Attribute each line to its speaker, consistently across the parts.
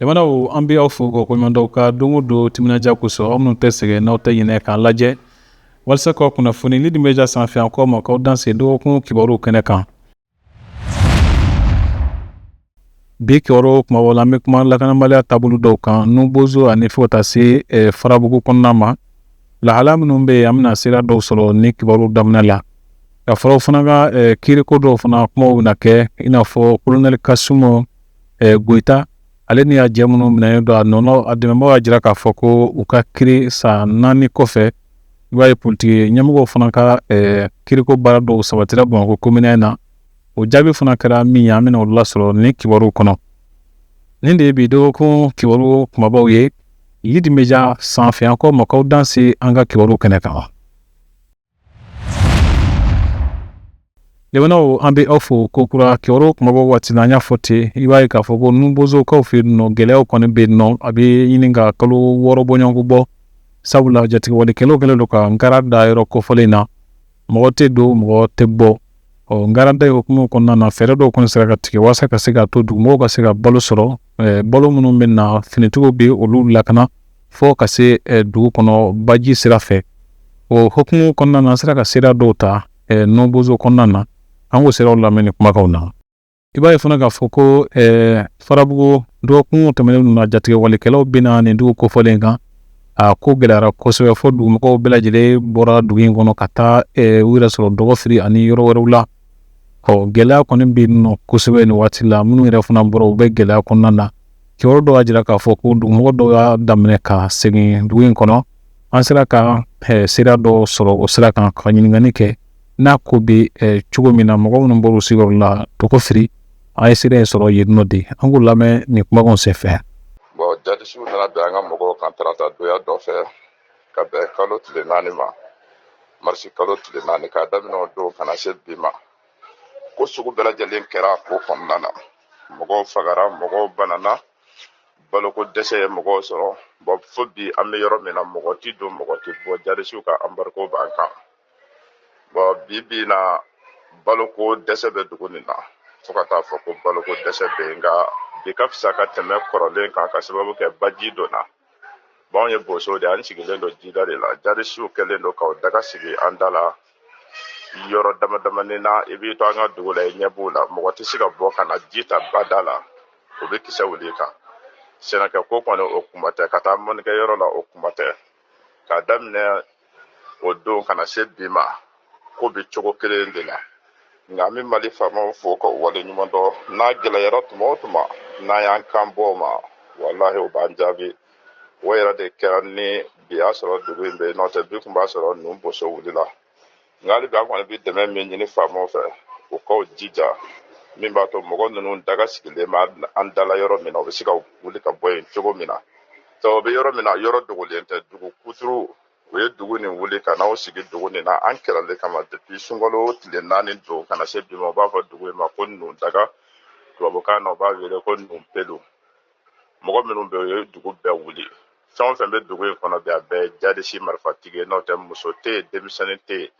Speaker 1: Jamanaw an bɛ aw fo k'aw koɲumandɔn aw ka don o don timinandiya kosɔn aw minnu tɛ sɛgɛn n'aw tɛ ɲinɛ k'an lajɛ walasa k'aw kunnafoni Lidi Media sanfɛ an k'aw ma k'aw danse dɔgɔkun kibaruw kɛnɛ kan Bi kibaruw kumabaw la an bɛ kuma lakanabaliya taabolo dɔw kan nubozo ani fo ka taa se eh, farabugu kɔnɔna ma lahala minnu bɛ yen an bɛna seereya dɔw sɔrɔ nin kibaruw daminɛ la ka fara o fana kan eh, kiiriko dɔw fana kumaw bɛna kɛ i n'a fɔ kolonɛli kasumu eh, goyita ale ni a jɛ minnu minɛnen don a nɔnɔ a dɛmɛbaaw y'a jira k'a fɔ ko u ka kiiri san naani kɔfɛ i b'a ye politiki ɲɛmɔgɔw fana ka eh, kiriko baara dɔw sabatira bamakɔ commune un na o jaabi fana kɛra min ye an bɛna o lasɔrɔ nin kibaruw kɔnɔ nin de ye bi dɔgɔkun kibaru kumabaw ye Lidi Media sanfɛ an k'aw ma k'aw danse an ka kibaruw kɛnɛ kan Jamanaw an bɛ aw fo kokura kibaru kumabaw waati na an y'a fɔ ten i b'a ye k'a fɔ ko nubozokaw fɛ yen nɔ gɛlɛyaw kɔni bɛ yen nɔ a bɛ ɲini ka kalo wɔɔrɔ bɔɲɔgɔnko bɔ sabula jatigɛwalekɛlaw kɛlen don ka nkara da yɔrɔ kofɔlen na mɔgɔ tɛ don mɔgɔ tɛ bɔ ɔ nkara da hukumu kɔnɔna na fɛɛrɛ dɔw kɔni sera ka tigɛ waasa ka se ka to dugumɔgɔw ka se ka balo sɔrɔ balo minnu bɛ na finitigiw bɛ olu lakana fo ka se dugu kɔnɔ baji sira fɛ o hukumu kɔnɔna na an sera ka seereya dɔw ta eh, nubozo kɔnɔna na an k'o seereyaw lamɛn nin kumakanw na i b'a ye fana k'a fɔ ko eh, farabugu dɔgɔkun tɛmɛnen ninnu na jatigɛwalekɛlaw binna nin dugu kofɔlen kan a ko gɛlɛyara kosɛbɛ fo dugumɔgɔw bɛɛ lajɛlen bɔra dugu in kɔnɔ ka taa eh, u yɛrɛ sɔrɔ dɔgɔfiri ani yɔrɔ wɛrɛw la ɔ gɛlɛya kɔni bɛ yen nɔ kosɛbɛ nin waati la minnu yɛrɛ fana bɔra u bɛ gɛlɛya kɔnɔna na kibaru dɔw y'a jira k'a fɔ ko dugumɔgɔ dɔw y'a daminɛ ka segin dugu in kɔnɔ an sera ka seereya dɔ sɔrɔ o sira kan ka ɲininkali kɛ n'a ko bɛ cogo min na mɔgɔ minnu bɔra u sigiyɔrɔ la dɔgɔfiri an ye seereya in sɔrɔ yen nɔ de an k'u lamɛn nin kumakan senfɛ bɔn jadisiw
Speaker 2: nana bin an ka mɔgɔw kan tarata donya dɔ fɛ ka bɛn kalo tile naani ma marisi kalo tile naani k'a daminɛ o don ka na se bi ma ko sugu bɛɛ lajɛlen kɛra ko kɔnɔna na mɔgɔw fagara mɔgɔw banana baloko dɛsɛ ye mɔgɔw sɔrɔ bɔn fo bi an bɛ yɔrɔ min na mɔgɔ tɛ don mɔgɔ tɛ bɔ jarisiw ka anbariko b'an kan bɔn bi bi na baloko dɛsɛ bɛ dugu nin na fo ka taa fɔ ko baloko dɛsɛ bɛ yen nka bi ka fisa ka tɛmɛ kɔrɔlen kan ka sababu kɛ baji donna bɔn anw ye bosow de an sigilen don jida de la jarisiw kɛlen don k'u daga sigi an da la yɔrɔ damadamanin na i b'i to an ka dugu la i ɲɛ b'u la mɔgɔ tɛ se ka bɔ ka na ji ta bada la o bɛ kisɛ wuli kan sɛnɛkɛ ko kɔni o kuma tɛ ka taa mɔnikɛ yɔrɔ la o kuma tɛ k'a daminɛ o don ka na se bi ma ko bɛ cogo kelen de la nka an bɛ mali faamaw fo ka wale ɲuman dɔn n'a gɛlɛyara tuma o tuma n'an y'an kan bɔ o ma walahi o b'an jaabi o yɛrɛ de kɛra ni bi y'a sɔrɔ dugu in bɛ yen n'o tɛ bi kun b'a sɔrɔ nuboso wulila nka hali bi an kɔni bɛ dɛmɛ min ɲini faamaw fɛ u ka u jija min b'a to mɔgɔ ninnu daga sigilen bɛ an dala yɔrɔ min na u bɛ se ka wuli ka bɔ yen cogo min na sabu u bɛ yɔrɔ min na yɔrɔ dogolen tɛ dugu kuturu u ye dugu nin wuli ka na u sigi dugu nin na an kɛlɛli kama depuis sunkalo tile naani don ka na se bi ma u b'a fɔ dugu in ma ko nundaga tubabukan na u b'a wele ko nunpelu mɔgɔ minnu bɛ yen u ye dugu bɛɛ wuli fɛn o fɛn bɛ dugu in kɔnɔ bi a bɛɛ ye jadisi marifatigi ye n'o tɛ muso tɛ yen denmisɛnnin tɛ yen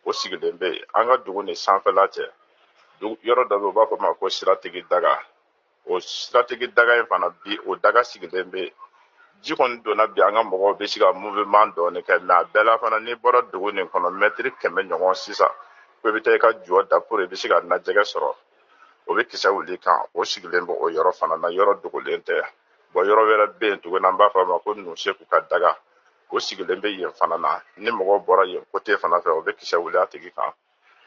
Speaker 2: o sigilen bɛ yen an ka dugu ni sanfɛla cɛ yɔrɔ dɔ bɛ yen u b'a fɔ ma ko siratigi daga o siratigi daga in fana bi o daga sigilen bɛ yen ji kɔni donna bi an ka mɔgɔw bɛ se ka mouvement dɔɔni kɛ mais a bɛɛ la fana n'i bɔra dugu nin kɔnɔ mɛtiri kɛmɛ ɲɔgɔn sisan ko i bɛ taa i ka jɔ da pour i bɛ se ka najɛgɛ sɔrɔ o bɛ kisɛ wuli kan o sigilen bɛ o yɔrɔ fana na yɔrɔ dogolen tɛ bon yɔrɔ wɛrɛ bɛ yen tuguni an b'a fɔ a ma ko nuseku ka daga o sigilen bɛ yen fana na ni mɔgɔw bɔra yen côté fana fɛ o bɛ kisɛ wuli a tigi kan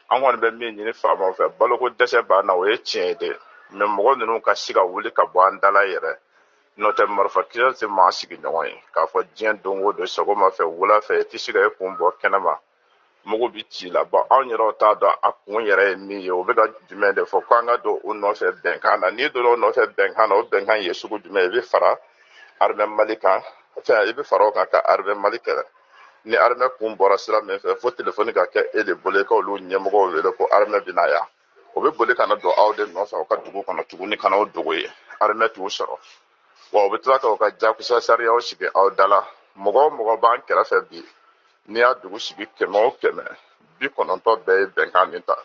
Speaker 2: an kɔni bɛ min ɲini faamaw fɛ baloko dɛsɛ b'an na o ye tiɲɛ ye dɛ mais mɔgɔ ninnu ka se ka wuli ka bɔ an dala yɛrɛ n'o tɛ marifa kisɛ tɛ maa sigiɲɔgɔn ye k'a fɔ diɲɛ don o don sɔgɔma fɛ wula fɛ i tɛ se ka i kun bɔ kɛnɛma mugu bi ci la bon anw yɛrɛw t'a dɔn a kun yɛrɛ ye min ye o bɛ ka jumɛn de fɔ ko an ka don o nɔfɛ bɛnkan na n'i donna o nɔfɛ bɛnkan na o bɛnkan ye sugu jumɛn i bɛ fara arimɛ mali kan enfin i bɛ fara o kan ka arimɛ mali kɛlɛ ni arimɛ kun bɔra sira min fɛ fo telefɔni ka kɛ e de bolo i ka olu ɲɛmɔgɔw wele ko arimɛ bɛna yan o bɛ boli ka na don aw de nɔfɛ aw ka dugu kɔnɔ tuguni ka na o dogo yen arimɛ t'u sɔrɔ wa u bɛ tila ka u ka jakusa sariyaw sigi aw dala mɔgɔ o mɔgɔ b'an kɛrɛfɛ bi n'i y'a dugu sigi kɛmɛ o kɛmɛ bi kɔnɔntɔn bɛɛ ye bɛnkan nin ta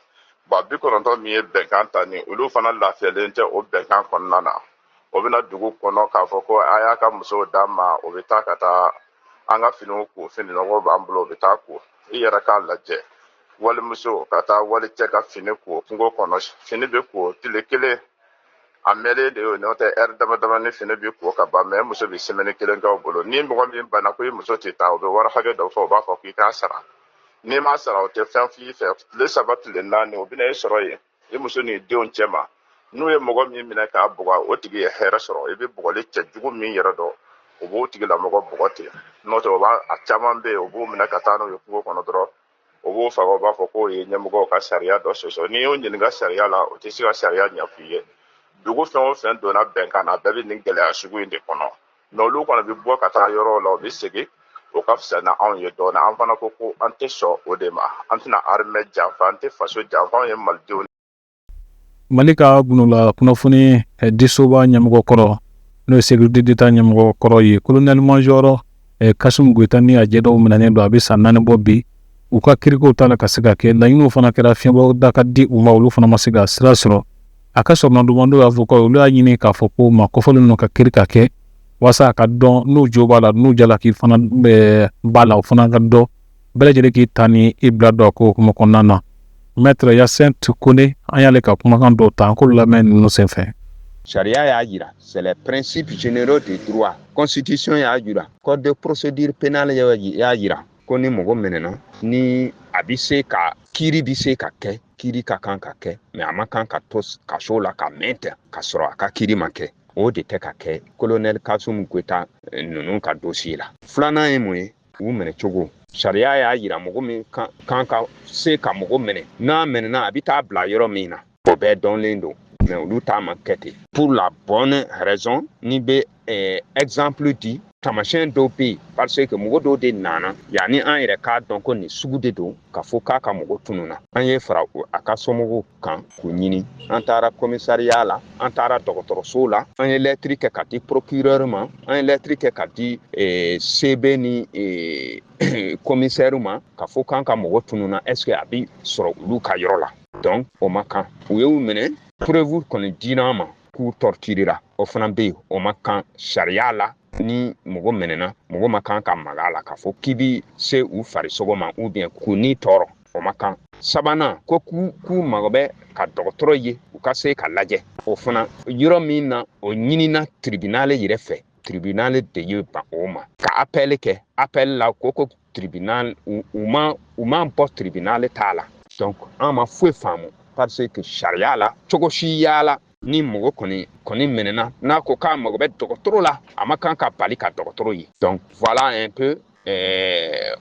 Speaker 2: bon bi kɔnɔntɔn min ye bɛnkan ta nin olu fana lafiyalen tɛ o bɛnkan kɔnɔna na o bɛna dugu kɔnɔ k'a fɔ ko a y'a ka musow d'an ma o bɛ taa ka taa an ka finiw ko fini nɔgɔ b'an bolo o bɛ taa ko i yɛrɛ k'a lajɛ walimuso ka taa wali cɛ ka fini ko kungo kɔnɔ fini bɛ ko tile kelen a mɛnnen de y'o n'o tɛ ɛri damadamanin fini bɛ ko ka ban mais muso bɛ semaine kelen kɛ o bolo ni mɔgɔ min banna ko i muso tɛ taa o bɛ wari hakɛ dɔ fɔ o b'a fɔ k'i k'a sara n'i m'a sara o tɛ fɛn f'i fɛ tile saba tile naani o bɛna e sɔrɔ yen i muso n'i denw cɛma n'u ye mɔgɔ min minɛ k'a bugɔ o tigi ye hɛrɛ sɔrɔ i bɛ bugɔli cɛjugu min yɛrɛ dɔn o b'o tigilamɔgɔ bugɔ ten n'o tɛ o b'a a caman bɛ yen o b'o minɛ ka taa n'o ye kungo kɔnɔ dɔrɔn u b'u faga u b'a fɔ k'u ye ɲɛmɔgɔw ka sariya dɔ sɔsɔ n'i y'u ɲininka sariya la u tɛ se ka sariya ɲɛfɔ i ye dugu fɛn o fɛn donna bɛnkan na a bɛɛ bɛ nin gɛlɛya sugu in de kɔnɔ mɛ olu kɔni bɛ bɔ ka taa yɔrɔw la u bɛ segin u ka fisa na anw ye dɔɔni an fana ko ko an tɛ sɔn o de ma an tɛna arimɛ janfa an tɛ faso janfa anw ye malidenw
Speaker 1: mali ka gundola kunnafoni eh, disoba ɲɛmɔgɔ kɔrɔ n'o ye sécurité d'état ɲɛmɔgɔ kɔrɔ ye colonel major eh, kasum goyita ni a jɛ dɔw minɛnen don a bɛ san naani bɔ bi u ka kirikow t'a la ka se ka kɛ laɲiniw fana kɛra fiɲɛbɔ da ka di u ma olu fana ma se ka sira sɔrɔ a ka soronadonbaa dɔ y'a fɔ ko olu y'a ɲini k'a fɔ ko ma kɔfɔlen ninnu ka kiri ka kɛ waasa a ka dɔn n'u jo b'a la n'u jalaki fana b'a la o fana ka dɔn bɛɛ lajɛlen k'i ta ni i bila dɔn ko hukumu kɔnɔna na maître hyacinthe kone an y'ale ka kumakan dɔw ta an k'olu lamɛn ninnu senfɛ sariya y'a
Speaker 3: jira c'est les principes généraux du droit constitution y'a jira code de procédure pénale y'a jira ko ni mɔgɔ minɛna ni a bɛ se ka kiri bɛ se ka kɛ kiri ka kan ka kɛ mɛ a ma kan ka to kaso la ka mɛn ten ka sɔrɔ a ka kiri ma kɛ o de tɛ ka kɛ kolonɛli kasum goyita eh, ninnu ka dossier la filanan ye mun ye u minɛ cogo sariya y'a yira mɔgɔ min kan ka se ka mɔgɔ minɛ n'a minɛna a bɛ taa bila yɔrɔ min na o bɛɛ dɔnlen don mɛ olu ta ma kɛ ten pour la bonne raison ne bɛ eh, exemple di tamasiyɛn dɔw bɛ yen parce que mɔgɔ dɔw de nana yanni an yɛrɛ k'a dɔn ko nin sugu de don k'a fɔ k'a ka mɔgɔ tununa an ye fara a ka somɔgɔw kan k'u ɲini an taara kɔmisariya la an taara dɔgɔtɔrɔso la an ye lɛtiri kɛ ka di procureur ma an ye lɛtiri kɛ ka di eh, cb ni eh, kɔmisɛri ma k'a fɔ k'an ka mɔgɔ tununa est ce que a bi sɔrɔ olu ka yɔrɔ la donc o ma kan u y'u minɛ preuve kɔni dira an ma k'u torturera o fana be yen o ma kan sariya la ni mɔgɔ minɛna mɔgɔ ma kan ka maga a la k'a fɔ k'i bi se u farisogo ma ou bien k'u ni tɔɔrɔ o ma kan sabanan ko k'u k'u mago bɛ ka dɔgɔtɔrɔ ye u ka se ka lajɛ o fana yɔrɔ min na o ɲinina tribunal yɛrɛ fɛ tribunal de ye ban o ma ka apɛli kɛ apɛli la ko ko tribunal u ma u ma bɔ tribunal ta la donc an ma foyi faamu parce que sariya la cogo si y'a la ni mɔgɔ kɔni kɔni minɛna n'a ko k'a mago bɛ dɔgɔtɔrɔ la a ma kan ka bali ka dɔgɔtɔrɔ ye donc voilà un peu euh,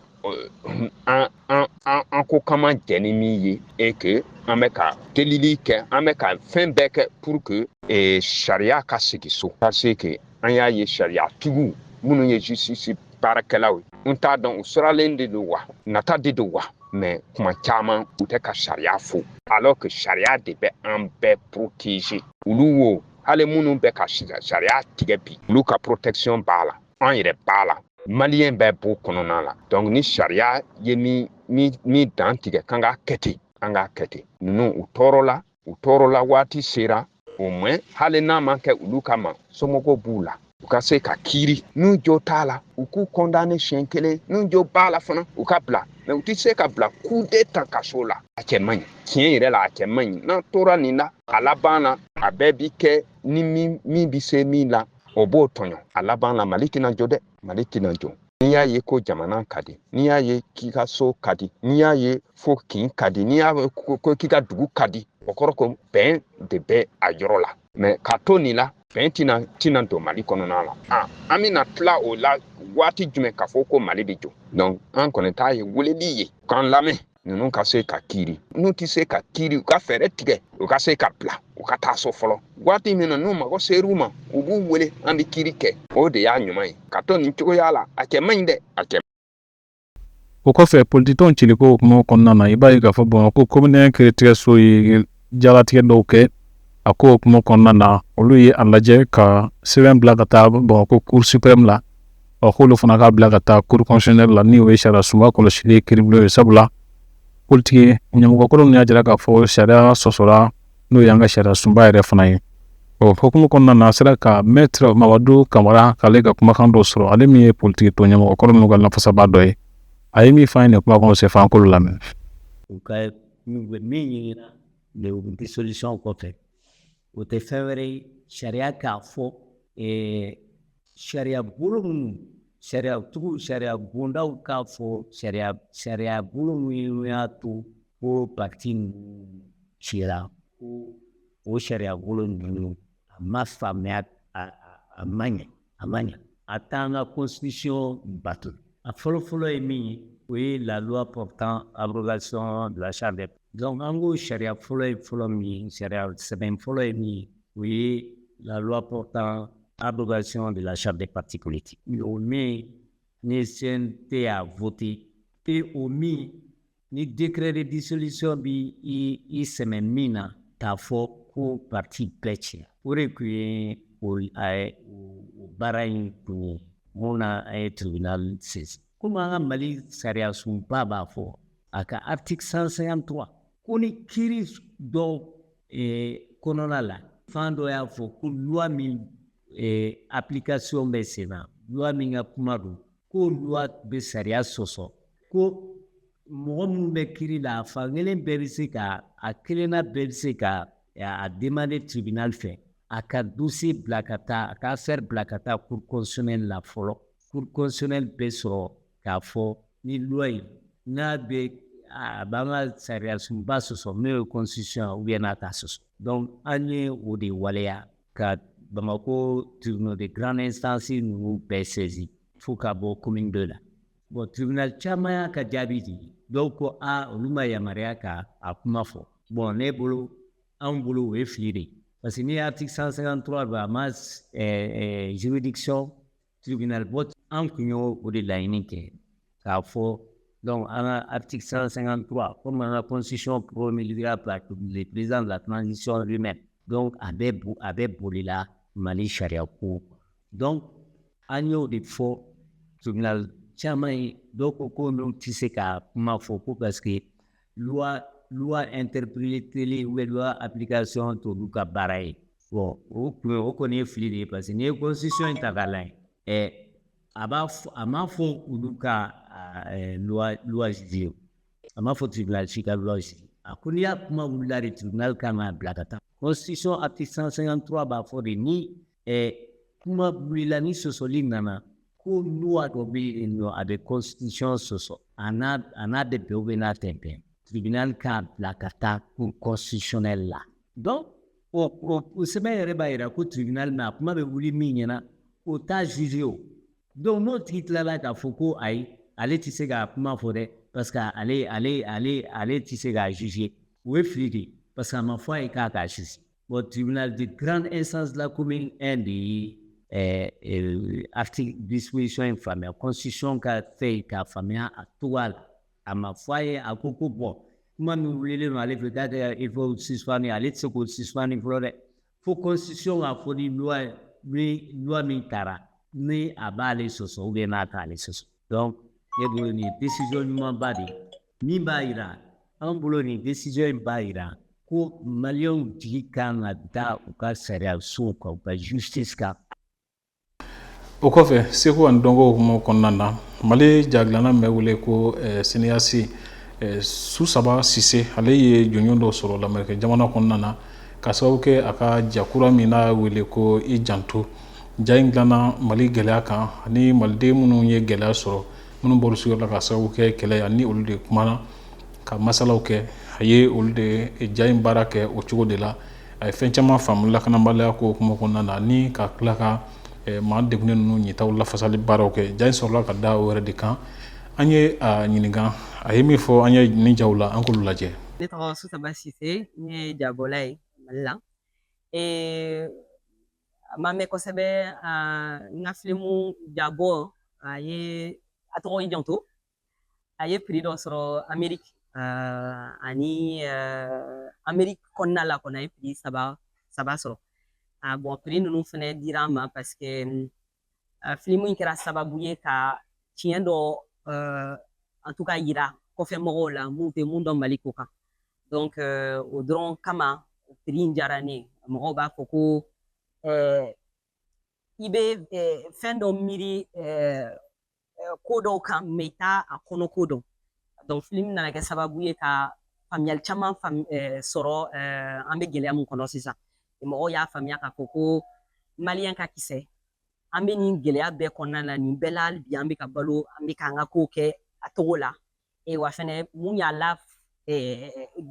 Speaker 3: an an an an ko k'an ma jɛn ni min ye et que an bɛ ka delili kɛ an bɛ ka fɛn bɛɛ kɛ pour que eh, sariya ka segin so parce que an y'a ye sariyatigiw minnu ye justice baarakɛlaw ye n t'a dɔn u sirannen de don wa nata de don wa mais tuma caman u tɛ ka sariya fɔ alors que sariya de bɛ an bɛɛ protéger olu wo hali minnu bɛ ka sariya tigɛ bi olu ka protection b'a la an yɛrɛ b'a la maliyɛn bɛɛ b'o kɔnɔna la donc ni sariya ye min dantigɛ k'an k'a kɛ ten an k'a kɛ ten ninnu u tɔɔrɔla u tɔɔrɔla waati sera au moins hali n'a ma kɛ olu kama somɔgɔw b'u la u ka se ka kiiri n'u jo t'a la u k'u condamner siɲɛ kelen n'u jo b'a la fana u ka bila mais u tɛ se ka bila kudayi tan kaso la a cɛ man ɲi tiɲɛ yɛrɛ la a cɛ man ɲi n'an tora nin la a laban na a bɛɛ bi kɛ ni min bɛ se min la o b'o tɔɲɔ a laban na mali tɛna jɔ dɛ mali tɛna jɔ n'i y'a ye ko jamana ka di n'i y'a ye k'i ka so ka di n'i y'a ye fɔ kin ka di n'i y'a ye ko k'i ka dugu ka di o kɔrɔ ko bɛn de bɛ a yɔrɔ la mais ka to nin la bɛn tina don mali kɔnɔna la ah, an bɛna tila o la waati jumɛn k'a fɔ ko mali bɛ jɔ donc an kɔni ta ye weleli ye k'an lamɛn ninnu ka se ka kiiri n'u tɛ se ka kiiri u ka fɛɛrɛ tigɛ u ka se ka bila u ka taa so fɔlɔ waati min na n'u mago ser'u ma u b'u wele an bɛ kiiri kɛ o de y'a ɲuman ye ka to nin cogoya la a cɛ man ɲi dɛ a
Speaker 1: cɛ o kɔfɛ politikitɔnw ciliko kuma kɔnɔna na i b'a ye k'a fɔ bamakɔ komini kiiritigɛso ye jalatigɛ dɔw kɛ a ko hukumu kɔnɔna na olu ye a lajɛ ka sɛbɛn bila ka taa bamakɔ cour suprême la k'olu fana k'a bila ka taa cour constitutionnelle la n'o ye sariya sunba kɔlɔsili kiiribulon ye sabula politiki ɲɛmɔgɔkɔrɔ ninnu y'a jira k'a fɔ sariya sɔsɔra n'o y'an ka sariya sunba yɛrɛ fana ye o hukumu kɔnɔna na an sera ka maître mamadu kamara k'ale ka kumakan dɔ sɔrɔ ale min ye politikitɔn ɲɛmɔgɔkɔrɔ ninnu ka lafasaba dɔ ye a ye min fɔ an ye nin kuma kɔnɔ f'an k'olu lamɛn
Speaker 4: N'u bɛ min ɲini na dissolution kɔfɛ o tɛ fɛn wɛrɛ ye sariya k'a fɔ sariya bolo ninnu sariyatigiw sariya bondaw k'a fɔ sariya sariya bolo minnu y'a to ko parti ninnu cira ko o sariya bolo ninnu a ma faamuya a ma ɲɛ a ma ɲa a t'an ka constitution bato a fɔlɔfɔlɔ ye min ye o ye la loi portant abrogation de la charte des donc an ko sariya fɔlɔ ye fɔlɔ min ye sariya sɛbɛn fɔlɔ ye min ye o ye la loi portant abrogation de la charte des partis politiques o min ni CNT y'a voté et o min Ni décret de dissolution b'i sɛmɛ min na k'a fɔ ko parti bɛɛ tiɲɛna o de kun ye o baara in kun ye mun na an ye tribunal saisir komi an ka mali sariyasunba b'a fɔ a ka article 153 ko ni kiiri dɔ eh, kɔnɔna la fan dɔ y'a fɔ ko loi min eh, application bɛ sen na loi min ka kuma don ko loi bɛ sariya sɔsɔ ko mɔgɔ minnu bɛ kiri la a fankelen bɛɛ bɛ se ka a kelenna bɛɛ bɛ se ka a demander tribunal fɛ a ka dossier bila ka taa a ka affaire bila ka taa cour constitutionnelle la fɔlɔ cour constitutionnelle bɛ sɔrɔ k'a fɔ ni loi in n'a bɛ a b'an ka sariyasunba sɔsɔ n'o ye constitution ou bien n'a t'a sɔsɔ donc an ye o de waleya ka Bamakɔ tribunal de grande instance ninnu bɛɛ saisi fo ka bɔ commune 2 la bon tribunal caman y'a ka jaabi di dɔw ko a olu ma yamaruya ka a kuma fɔ bon ne bolo anw bolo o ye fili de ye parce que ni article 153 don a ma juridiction tribunal bɔ an kun y'o o de laɲini kɛ k'a fɔ donc an ka article 153 comme an ka constitution promulguera par le président de la transition lui-même donc a bɛ bo a bɛ bolila Mali sariya ko donc an y'o de fɔ tribunal caman ye dɔw ko ko n'u tɛ se ka kuma fɔ ko parce que loi loi interprétée ou loi application t'olu ka baara ye o kun o kɔni ye fili de ye parce que n'i ye constitution in ta k'a lajɛ ɛ a b'a fɔ a m'a fɔ olu ka loi loi juger a m'a fɔ tribunal si ka loi juger a ko ni a kuma wulila de tribunal kan k'a bila ka taa constitution article 153 b'a fɔ de ni ɛ kuma wulila ni sɔsɔli nana ko loi dɔ bɛ yen nɔ a bɛ constitution sɔsɔ a n'a a n'a bɛ bɛn n'a tɛ bɛn tribunal k'a bila ka taa cour constitutionnelle la donc O sɛbɛn yɛrɛ b'a yira ko tribunal min a kuma bɛ wuli min ɲɛna o t'a juger o donc n'o tigi tilala k'a fɔ ko ayi ale tɛ se k'a kuma fɔ dɛ parce que ale ale ale ale tɛ se k'a juger o ye fili de ye parce que a ma fɔ a ye k'a k'a juger bon tribunal de grande instance de la commune 1 de ye ɛɛ euh, article disposition in faamuya constitution ka fɛn k'a faamuya a cogoya la A ma fɔ a ye a ko ko bon kuma min wulilen don ale fɛ k'a kɛ il faut suspendre ale tɛ se k'o suspendre fɔlɔ dɛ fo constitution k'a fɔ ni loi ni loi min taara ni a b'ale sɔsɔ ou bien n'a t'ale sɔsɔ donc ne bolo nin ye décision ɲumanba de ye min b'a yira an bolo nin décision in b'a yira ko maliyɛnw jigi kan ka da u ka sariyasow kan u ka justice kan
Speaker 1: o kɔfɛ seko ani dɔnko hukumu kɔnɔna na mali jadilanna bɛ wele ko eh, cinéaste eh, susaba sise ale ye jɔnjɔn dɔ sɔrɔ lamerikɛ jamana kɔnɔna na ka sababu kɛ a ka ja kura min n'a wele ko i janto ja in dilanna mali gɛlɛya kan ani maliden minnu ye gɛlɛya sɔrɔ minnu bɔra u sigiyɔrɔ la ka sababu kɛ kɛlɛ ye ani olu de kumana ka masalaw kɛ a ye olu de ja in baara kɛ o cogo de la a ye fɛn caman faamu lakanabaliya ko hukumu kɔnɔna na ni ka tila ka maa degunnen ninnu ɲitaw lafasali baaraw kɛ ja in sɔrɔla ka da o yɛrɛ de kan an ye a ɲininka a ye min fɔ an ye nin jaw la an k'olu lajɛ ne tɔgɔ susaba
Speaker 5: sise n ye jabɔla ye mali la a ma mɛn kosɛbɛ n ka filimu jabɔ a ye a tɔgɔ i janto a ye piri dɔ sɔrɔ ameriki uh, ani uh, ameriki kɔnɔna la kɔni a ye piri saba sɔrɔ a ah, bɔn piri ninnu fɛnɛ dira an ma paseke uh, filimu in kɛra sababu ye ka tiɲɛ dɔ uh, en tout cas yira kɔfɛ mɔgɔw la mun tɛ mun dɔn mali ko kan donc uh, o dɔrɔn kama piri in diyara ne mɔgɔw b'a fɔ ko uh, i bɛ uh, fɛn dɔ miiri uh, ko dɔw kan mɛ i t'a a kɔnɔ ko dɔn donc filimu nana kɛ sababu ye ka faamuyali caman sɔrɔ an bɛ gɛlɛya min kɔnɔ sisan mɔgɔw y'a faamuya k'a fɔ ko maliyɛn ka kisɛ an bɛ nin gɛlɛya bɛɛ kɔnɔna na nin bɛɛ la hali bi an bɛ ka balo an bɛ k'an ka kow kɛ a cogo la wa fɛnɛ mun y'a la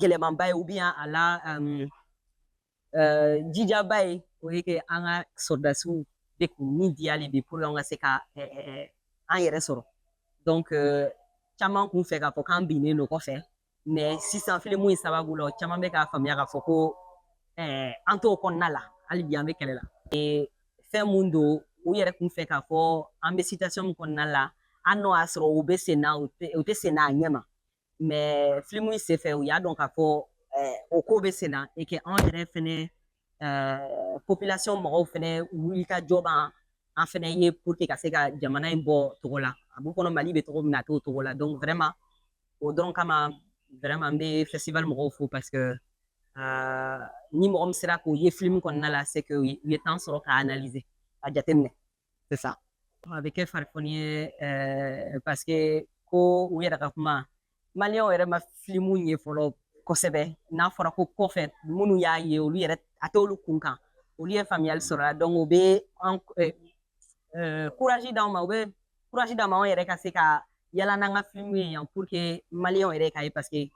Speaker 5: gɛlɛmanba ye ou bien a la jijaba ye o ye que an ka sɔrɔdasiw bɛ k'u ni di hali bi pour an ka se ka an yɛrɛ sɔrɔ donc caman kun fɛ k'a fɔ k'an binnen don kɔfɛ mɛ sisan filimu in sababu la caman bɛ k'a faamuya k'a fɔ ko an t'o kɔnɔna la hali bi an bɛ kɛlɛ la fɛn mun don u yɛrɛ kun fɛ k'a fɔ an bɛ situation min kɔnɔna la an n'o y'a sɔrɔ u bɛ sen na u tɛ sen n'a ɲɛ ma mɛ filimu in senfɛ u y'a dɔn k'a fɔ eh, o ko bɛ sen na et que anw yɛrɛ fɛnɛ eh, population mɔgɔw fɛnɛ wulikajɔ b'an an fɛnɛ ye pour que ka se ka jamana in bɔ cogo la a b'u kɔnɔ mali bɛ cogo min na a t'o cogo la donc vraiment o dɔrɔn kama vraiment n bɛ festival mɔgɔw fo parce que eh, ni mɔgɔ min sera k'o ye filimu kɔnɔna la c'est que u ye temps sɔrɔ k'a analyser a jateminɛ c'est ça a bɛ kɛ farifoni ye euh, parce que ko u yɛrɛ ka kuma maliyɛnw yɛrɛ ma filimu ye fɔlɔ kosɛbɛ n'a fɔra ko kɔfɛ minnu y'a ye olu yɛrɛ a t'olu kun kan olu ye faamuyali sɔrɔ la donc u bɛ an eh, eh, courage d'anw ma u bɛ courage d'anw ma anw yɛrɛ ka se ka yala n'an ka filimu ye yan pour que maliyɛnw yɛrɛ k'a ye parce que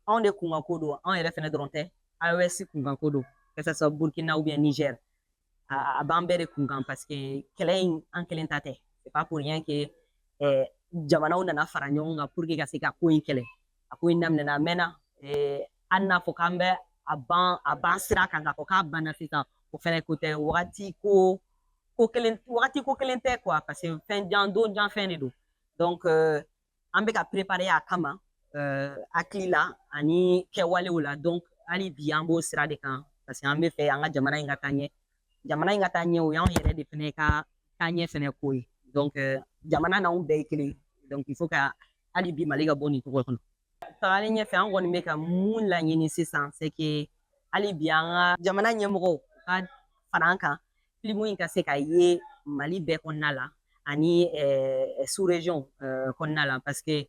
Speaker 5: anw de kunkanko don anw yɛrɛ fɛnɛ dɔrɔn tɛ AES kunkanko don que ça soit Burkina ou bien Niger a b'an bɛɛ de kun kan paseke kɛlɛ in an kelen ta tɛ c'est pas pour rien que eh, jamanaw nana fara ɲɔgɔn kan pour que ka se ka ko in kɛlɛ a ko in daminɛna a mɛnna eh, hali n'a fɔ k'an bɛ a ban sira kan k'a fɔ k'a banna sisan o fɛnɛ ko tɛ wagati wagati ko kelen tɛ quoi parce que fɛn jan don jan fɛn de don donc euh, an bɛ ka prepare a kama uh, hakili la ani kɛwalew la donc hali bi an b'o sira de kan parce que an bɛ fɛ an ka jamana in ka taa ɲɛ jamana in ka taa ɲɛ o y'anw yɛrɛ de fɛnɛ ka taa ɲɛ fɛnɛ ko ye donc uh, jamana n'anw bɛɛ ye kelen donc il faut ka hali bi mali ka bɔ nin cogo kɔnɔ tagalen ɲɛfɛ an kɔni bɛ ka mun laɲini sisan c'est que hali bi an ka jamana ɲɛmɔgɔw ka fara an kan filimu in ka se ka ye mali bɛɛ kɔnɔna la ani eh, sous région eh, kɔnɔna la parce que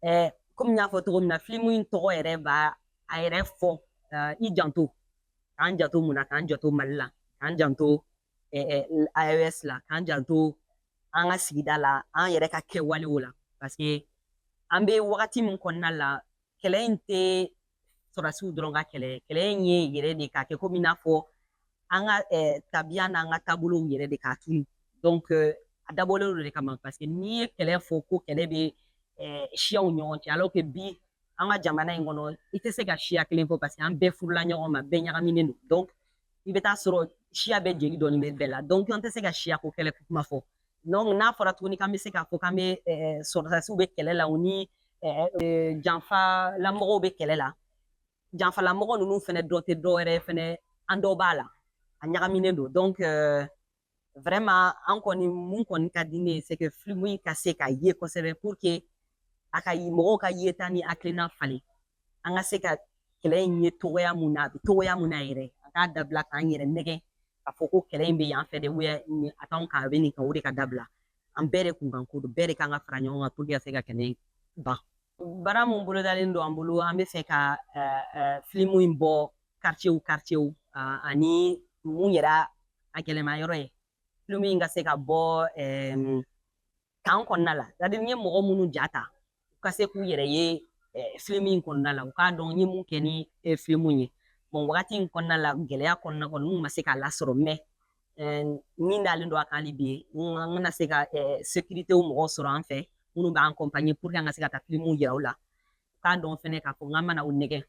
Speaker 5: eh, komi n y'a fɔ cogo min na filimu in tɔgɔ yɛrɛ b'a a yɛrɛ fɔ eh, i janto k'an janto mun na k'an janto mali la k'an janto eh, eh, AES la k'an janto an ka sigida la an yɛrɛ ka kɛwalew la parce que an bɛ wagati min kɔnɔna la kɛlɛ in tɛ sɔrɔdasiw dɔrɔn ka kɛlɛ kɛlɛ in ye yɛrɛ de k'a kɛ komi i n'a fɔ an ka tabiya n'an ka taabolow yɛrɛ de k'a tunu a dabɔlen don o de kama paseke n'i ye kɛlɛ fɔ ko kɛlɛ bɛ siyaw ɲɔgɔn cɛ alɔrɔke bi an ka jamana in kɔnɔ i tɛ se ka siya kelen fɔ paseke an bɛɛ furula ɲɔgɔn ma bɛɛ ɲagaminen don dɔnku i bɛ taa sɔrɔ siya bɛɛ jeli dɔɔnin bɛ bɛɛ la dɔnku an tɛ se ka siyako kɛlɛ kuma fɔ Donc n'a fɔra tuguni k'an bɛ se k'a fɔ k'an bɛ sɔrɔdasiw bɛ kɛlɛ la u ni janfalamɔgɔw bɛ kɛlɛ la janfalamɔgɔ ninnu fɛnɛ dɔ tɛ dɔ wɛrɛ fɛnɛ an dɔ b'a la a ɲagaminen don donc vraiment an kɔni mun kɔni ka di ne ye c'est que filimu in ka se ka ye kosɛbɛ pour que a ka mɔgɔw ka yeta ni hakilina falen an ka se ka kɛlɛ in ye cogoya mun na a bɛ cogoya mun na yɛrɛ an k'a dabila k'an yɛrɛ nɛgɛ k'a fɔ ko kɛlɛ in bɛ yan fɛ de wɛ nin a t'anw kan a bɛ nin kan o de ka dabila an bɛɛ de kun kan ko don bɛɛ de kan ka fara ɲɔgɔn kan puruke ka se ka kɛlɛ in ban baara mun bolodalen don an bolo an bɛ fɛ ka filimu in bɔ kartiye kartiye ani mun yɛrɛ a gɛlɛma yɔrɔ ye filimu in ka se ka bɔ kan kɔnɔna la sɛtadiri n ye mɔgɔ minnu ja ta u ka se k'u yɛrɛ ye filimu in kɔnɔna la u k'a dɔn n ye mun kɛ ni filimu ye bɔn wagati in kɔnɔna la gɛlɛya kɔnɔna kɔnɔ n ma se k'a lasɔrɔ mɛ min dalen don a kan hali bi an ka na se ka sekirite mɔgɔw sɔrɔ an fɛ minnu b'an kɔnpanye puruke an ka se ka taa filimu yira u la k'a dɔn fɛnɛ k'a fɔ k'an ma na u nɛgɛ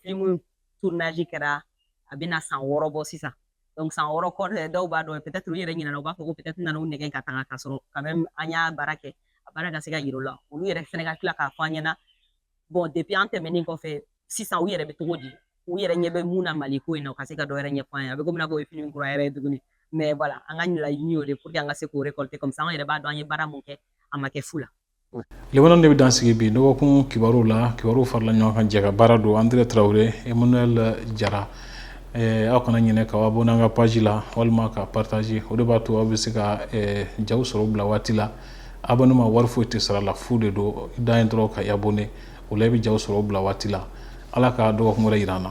Speaker 5: filimu tournage kɛra a bɛna san wɔɔrɔ bɔ sisan donc san wɔɔrɔ kɔ dɔw b'a dɔn peut-être u yɛrɛ ɲinɛna u b'a fɔ ko peut-être an nana u nɛgɛ ka taga ka sɔrɔ quand même an y'a baara kɛ a baara ka se ka yir'u la olu yɛrɛ fɛnɛ ka tila k'a fɔ an ɲɛ na bon depuis an tɛmɛnen kɔfɛ sisan u yɛrɛ bɛ cogo di u yɛrɛ ɲɛ bɛ mun na mali ko in na u ka se ka dɔ wɛrɛ ɲɛfɔ an ye a bɛ komi n'a fɔ o ye filimu kura yɛrɛ ye tuguni mais voilà an ka laɲini y'o de ye pour que an ka se k'o récolter comme ça an yɛrɛ b'a dɔn an ye baara mun kɛ a ma kɛ fu la laban nin de
Speaker 1: bɛ dan sigi bi dɔgɔkun kibaruw la kibaruw farala ɲɔgɔn kan jɛkabaara don andré traoré emmanuel jara aw kana ɲinɛ k'aw abɔne an ka paji la walima ka pataze o de b'a to aw bɛ se ka jaw sɔrɔ bila waati la abɔneman wari foyi tɛ sara a la fu de don i dan ye dɔrɔn ka i abɔne o la i bɛ jaw sɔrɔ bila waati la ala ka dɔgɔkun wɛrɛ yira an na